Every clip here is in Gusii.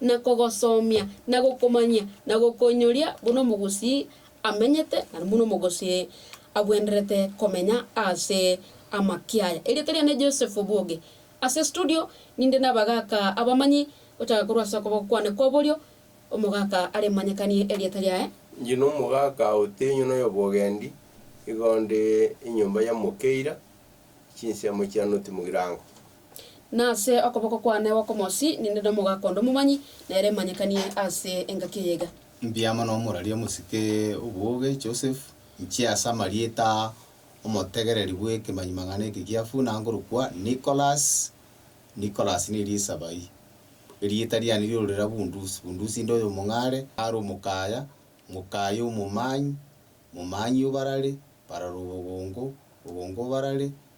na kogosomia, na gokomanyia, na gokoinyoria buna omogusii amenyete, na buna omogusii agwenderete komenya ase amaki aya. Erieta riane Joseph Obuoge. Ase studio ninde nabagaka abamanyi gochaka korwa ase okoboko kwane kwa borio, omogaka are manyekanie erieta riaye. Inche nomogaka otinywa noyobogendi, igo nde enyomba ya Mokeira, chinsemo chia North Mugirango. Nase okoboko kwane gw'okomosi ninde nomogaka onde omomanyi, na ere emanyekanie ase engaki eye iga. Mbuya mono omoraria omosike obwoge, Joseph, inche ase amarieta aa, omotegereri bw'ekemanyimang'ana eke giafu, nangorokwa Nicholas, Nicholas ne riisa bai. Erieta riane riororera Bundusi, Bundusi inde oyomong'are, are omokaya, mokaya omomanyi, momanyi obarare, barare obogongo, bogongo obarare,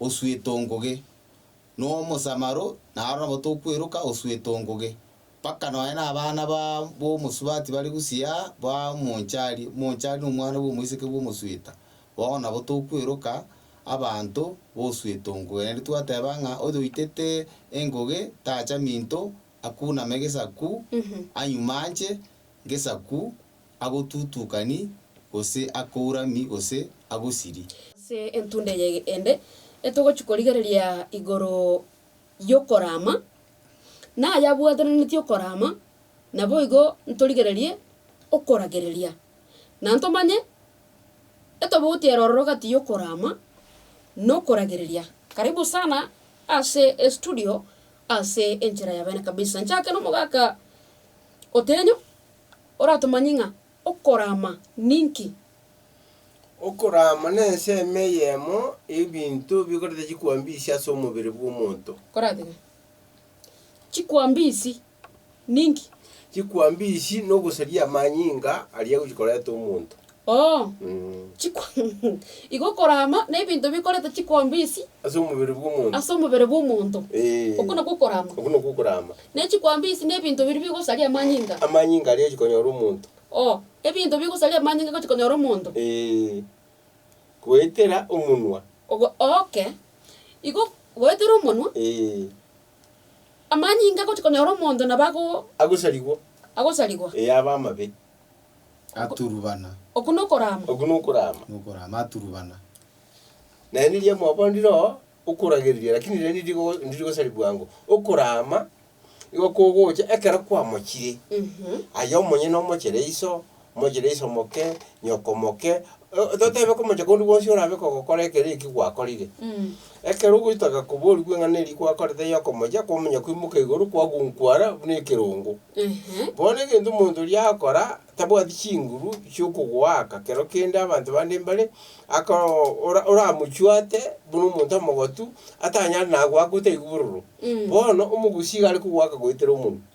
osuete o nguge, na omosamaro, na aro nabo tokweroka osuete o nguge, mpaka nonya na abana ba b'omosubati bare gusii aa ba omonchari, omonchari na omwana bw'omoiseke bw'omosueta, bono nabo tokweroka abanto b'osuete o nguge. Naende twateba ng'a oyoitete enguge tacha minto, akuname gesaku, anyumanche gesaku, agotutukani, gose akourami, gose agosiri. Ase entunda eye ende etogochia korigereria igoro y'okorama, na aye abwatananetie okorama, naboigo ntorigererie okoragereria, na ntomanye etobauti ere ororo gati y'okorama na okoragereria. Karibu sana ase estudio ase enchera ya bene kabisa. Nchake nomogaka Otenyo. oratomanye ng'a okoraama ninki? Okoraama nensemo eyemo y'ebinto bikoreta chikwambisi ase omobere bw'omonto. Koratebe, Chikwambisi ninki? Chikwambisi nogosaria amanyinga aria agochia koreta omonto. Oo, chiko igo okorama na ebinto bikoreta chikwambisi Ase omobere bw'omonto. ase omobere bw'omonto. Ee. Okwo nakwo okorama. Okwo nakwo okorama. Ne chikwambisi na ebinto biria bigosaria amanyinga. Amanyinga aria gochikonyora omonto. Oo, ebinto bigosaria amanyinga gochikonyora omonto. Ee. Goetera omonwa. Ogo, oke, igo goetera omonwa. Ee. Amanyinga gochikonyora omonto nabo ago. Agosarigwa. Agosarigwa. Ee, abe amabe. aturubana. Oku nokoraama. Oku nokoraama. Nokoraama aturubana. Naye nirigia mwabonire oo okoragereria, lakini rende ndirigo ndirigosari bwango. Okoraama igo kogocha ekero kwamochire, aye omonyene omochere iso, omochere iso moke, nyoko moke, o- totebe komocha korwa bonsi orabe kogokora ekero ekio gwakorire. Ekero ogoita gakoborigwe ng'a neri gwakorete y'okomochia kw'omonye koimoka igoro kwagunkwara buna ekerongo. Bono egento omonto oria agokora tabwati chinguru chi'okogoaka kero kende abanto bande mbare, aka ora- oramochwate buna omonto omogotu, atanyare nagoakwa otaigu bororo. Bono omogusi iga are kogoaka goetera omonwe.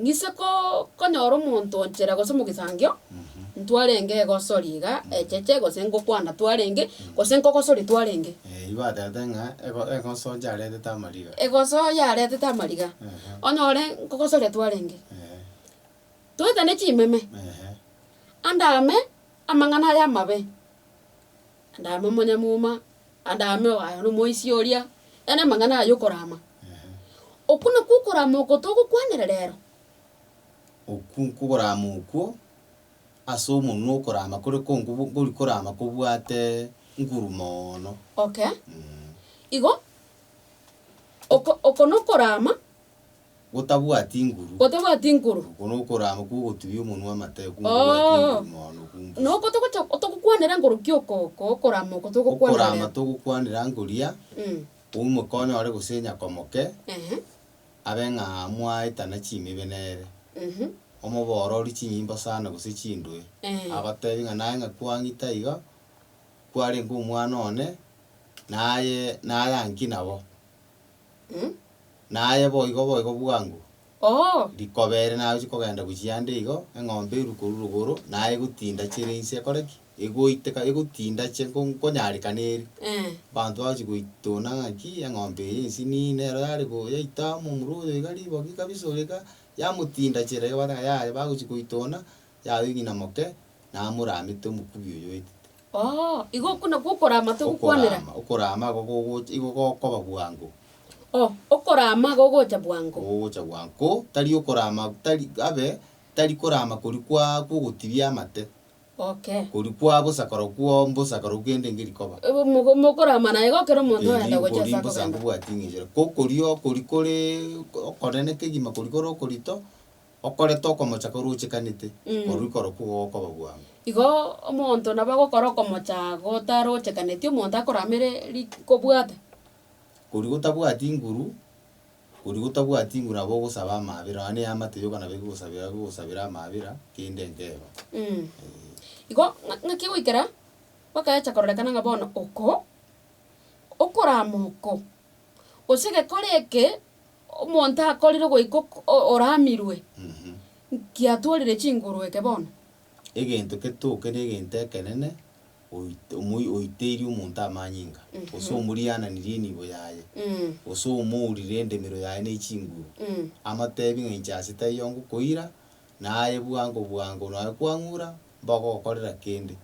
Ng'ise ko- konyora omonto onchera gose omogisangio, ntwarenge egosori iga echeche gose ngokwana twarenge, gose nkogosori twarenge. Eh, igo baterete ng'a ego- egoso yaretete amariga. Egoso yaretete amariga, Ehe. onyore nkogosoria twarenge. Eeh, Toetane chimeme, ehe. ande ame amang'ana aya amabe. andame omonyamuma, andame oyo nomoisia oria, yaani amang'ana aya yokorama. Okwo nakwo okorama oko togokwanera rero. Okwo nkokorama okwo, ase omonwa okorama kore ko nkobu nkori korama kobwate nguru moono. Okay, igo oko oko nokorama. gotabwati nguru. Gotabwati nguru. Oko nokorama kw'ogotubia omonwa amate, oko gotobwati Oo. nguru mono na okumbusa. Na oko togocha, togokwanera nguru ki oko, oko okorama oko togokwanera Okorama rero? togokwanera ngoria, Mm. omokonya ore gose nyakomoke, Ehe. abe ng'a mwaetana chimibe nere, Mhm. omoboororie chinyimbo sana gose chindwe, Eh. agoteebie ng'a naye ng'a kwang'ita iga, kwarenge omwana one, naye naye ang'ki nabo. naye boigo boigo bwango. Oo. Rikoba ere nagochi kogenda gochia ande igo, eng'ombe erwe korwa rogoro, naye egotinda chire inse ekore ki? Egoiteka, egotinda chie nko- nkonyareka neeri. Eeh. Abanto bagochi goitona ng'aki eng'ombe eye ensi niyi nero yare go yaita amo omura oyo iga riboki kabisa oria iga, yamotinda chire iga bateba yaya bagochi goitona, yaya ong'ina moke, namoramete omokubi oyo oetete. Oo, igo okwo nakwo okoraama togokwanera. Okoraama, okoraama igo gogocha, igo gokoba bwango. Oo, okoraama gogocha bwango. Gogocha bwango. Ko, tari okoraama, tari, abe, tari koraama koria kwa, kw'ogotibia amate, Okay. koria kwa bosa korokwo, mbosa korokwo kende enki rikoba. Ebo moko- mokoraama naye igo ekero omonto Erio oyende gocha ase okoria mbosa akogenda. nkobwati ng'enchera. Ko koria, koria kore okonene kegima koria kore okorito, okorete okomocha korochekanete, korwa ikoro kwo gokoba bwango. Igo omonto nabo agokora okomocha gotarochekaneti, omonto akoramere ri kobwata. Koria gotabwati nguru, koria gotabwati nguru nabo ogosaba amaabera, nonya na eamate yoka nabo egegosabera egegosabera amaabera, kende nkeba. Eeh. Igo ng'a ng'aki goikera gwakaecha kororekana ng'a bono oko, okorama oko, gose egekora eke, Omonto akorire goika ok oramirwe, nkiatorire chinguru eke bono. Egento ketoke negento ekenene oit omoi oiteirie omonto amanyinga, gose omoriananirie enibo yaye, gose omourire endemero yaye ne chinguru, amotebi ng'a inche ase taiyo ngokoira, na aye bwango bwango nonya kwang'ura, mbogokorera kende,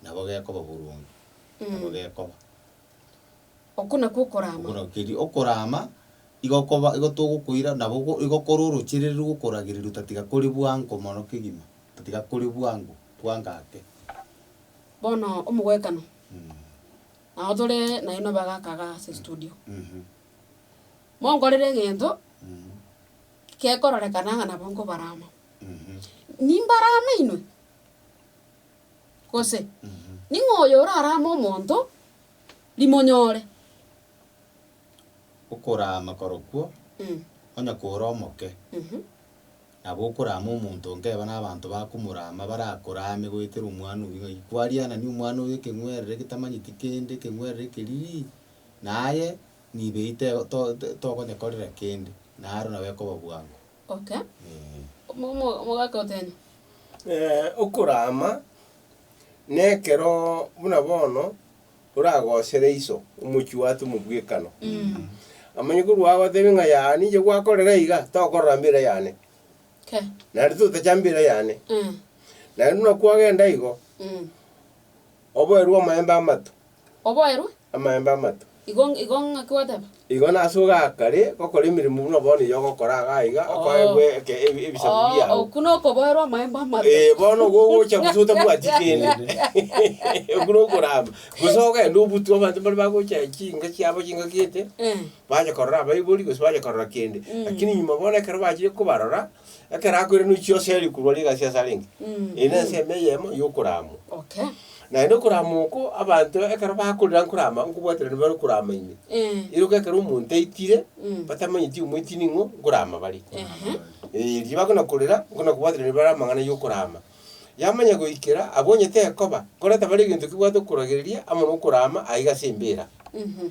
nabo gekoba boronge. Nabo gekoba. Okwo nakwo okoraama. Okwo nakwo keria okoraama, igo koba, igo togokoira, nabo go- igo kore orochereriri rw'okoragereria otatiga kore bwango mono kegima, otatiga kore bwango, bwango ake. Bono omogoekano, nabo tore naye nobe agaka igaa ase estudio. Mhm. Monkorere egento, Mhm. gekororekana ng'a nabo nkobarama. Mhm. Nimbarame inwe. Gose, Ning'o oyo orarame omonto rimonyore? Okorama korokwo, onye kore omoke, nabo okorama omonto nkeba nabanto bakomorama barakorame goetera omwana oyio ng'ai kwarianani omwana oyo ekeng'werere getamanyeti kende ekeng'werere ekeririri naye nibeyi tee to- to- tokonyekorera kende naro nabo ekoba bwango. Okay. Mo- mo- mogaka otene. okorama nekero buna bono oragosere iso omochi watu mobwekano. Amanye korwa agotebe ng'a yaa ninche gwakorera iga, tokorora mbera yane. Kei. Naende totacha mbera yane. Naende buna kwagenda igo, oboerwe amaemba amato. Oboerwe. Amaemba amato. Igo, igo ng'aki gwateba? Igo nase ogakare gokora emeremo buna bono eyio ogokora iga aiga, okoegwe Oo. eke- ebi- ebisaku Oo, biao. okwo nokoboerwa amaemba amato. Eh, bono igo ogocha gose otabwati kende. Okwo nokorama. Gose ogende obutwe abanto mbare bagocha chinka chiabo chinka gete, Eh. bacha korora abaibori gose bacha korora kende. Lakini nyuma bono ekero bachire kobarora. Ekero akwerenwe chi'ose eri korwa rigasi ase arenge, eye nense ime eyemo y'okoramwa. Okay. Naende okoramwa oko, abanto ekero bakorera nkorama, nkobwatera nibare okorama ime. Eh. Iroka ekero omonto aitire, Mm. batamanyeti omoiti ning'o nkorama bare. Ehe. Eh, erio bakona korera, nkona kobwatera nibare amang'ana y'okorama. Yamanya goikera, abwo onye tekoba, korenta bare egento kebwate okoragereria, amo nokorama, aiga ase embera. Mhm.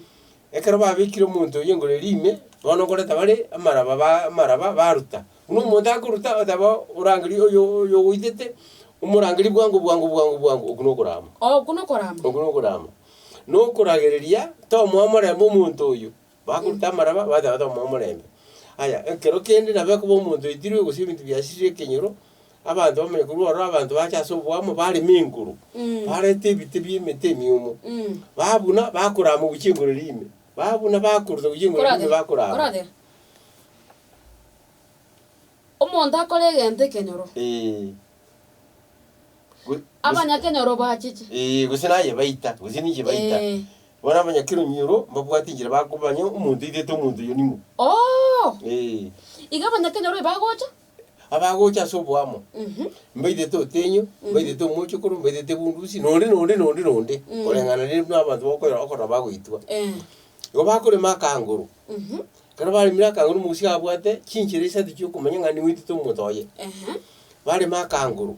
Ekero babekire omonto oyio igoro eria ime, bono nkoreta bare amaraba ba amaraba baruta. Buna omonto akoruta, oteba orangerie oyo oyogoitete, omorangerie bwango bwango bwango bwango, okwo nokorama. Okwo nokorama. Okwo nokorama. Nokoragereria tomoa omorembe omonto oyio, bakoruta amaraba bateba tomoa omorembe. Aya, ekero kende nabo ekoba omonto oitirwe gose ebinto biasirire ekenyoro. Abanto bamanye korwa oro abanto bache ase oboamo bareme enguru, barete ebite bi'emete emiomo, babuna, bakorama gochia engoro eria ime, babuna, bakoruta gochia engoro eria ime bakorama. Koragera. Omonto akore egento ekenyoro. Ee. Go- Abanyakenyoro bachiche. Ee, gose naye baita, gose ninche baita. Ee. Bono abanyakeromi oro, mbabwate enchera bakobanya omonto oitete omonto oyo nimo. Oo! Ee. Iga abanyakenyoro ebagocha. Abagocha ase oboamo, mbairete otenyo, mbairete omochokoro, mbairete bundusi, na onde, na onde, na onde, na onde, koreng'ana ne- nabato bakoira okona bagoitwa. Eh. Igo bakorema akanguru, ekero baremire akanguru omogusii abwate chinchera isatu chiokomanya ng'a nigo oitete omonto oye. Ehe. Barema akanguru.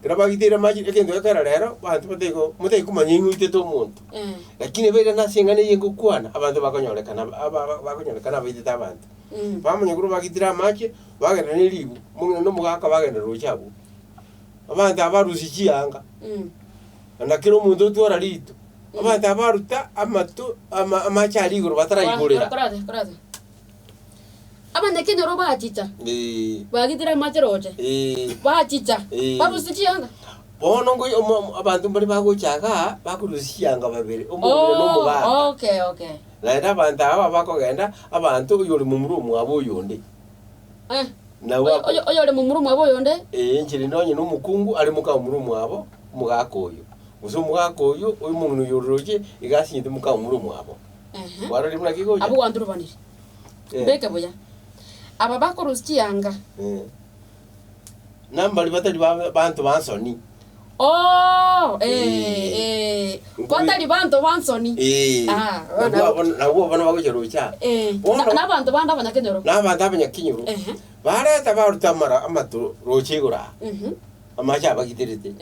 Ekero bagiteire amache egento gekero rero, abanto bataiyo ko motaiyo komanya ng'a oitete omonto. Eh. Lakini ebeire na ase eng'ana eye ngokwana, abanto bakonyorekana ab- aba bakonyorekana abaitete abanto. Mm. Bamanya korwa bagitire amache, bagenda ne ribu, omong'ina na omogaka bagenda roche abwo. Abanto aba barusia chianga, Mm. na kera omonto otwara rito, abanto aba baruta amato ama amache aria igoro Kora- bataraigorera. korase korase. Abanyakenyoro bachicha, bagitire amache roche, bachicha, barusia chianga. Bono ngoy- omo- omo- abanto mbare bagocha igaa, bakorusia chianga babere, omomura na omogaka. Oh, okay, okay. Naende abanto aba bakogenda, abanto oyo ore momura omwabo oyonde. Eh, Na oyo- bako- oyo- oyore momura omwabo oyonde. Ee, enchera ende onye na omokungu are moka momura omwabo, omogaka oyo. Gose omogaka oyo, omong'ina oyo oroche, iga asinyete moka momura omwabo. Ehe. Kwarorire buna ki gocha? Abwo gwanturubanire. Eh. Beke buya. Aba bakorusia chianga. Eh. Nambari batari ba- banto bansoni. Oo, eh, Eh. eh. Nkwe- Kwatari banto bansoni. Eh. Ah, Nabwo bana- abona- nabwo abona bagocha rocha. Eh, Bono- na- nabanto bande abanyakenyoro. Nabanto abanyakinyuru. Ehe. Bareta baruta amara amato rocha igoro aa. Mhm. Amache abagiterete,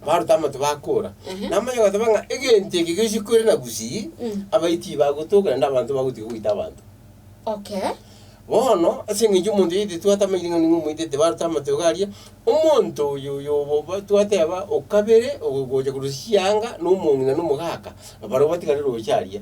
baruta amato bakora, Ehe. na amanye goteba ng'a egento eke gesikwere na gusii, Mm. abayi tibagotoka naende abanto bagotiga goita abanto. Okay. Bono ase eng'encho omonto oyoite twatamairi ng'a nigo omoitete baruta amato iga aria, omonto oyo oyo obo ba- twateba o kabere ogo ogocha korwa chianga na omong'ina na omogaka, barobwo batigane roche aria.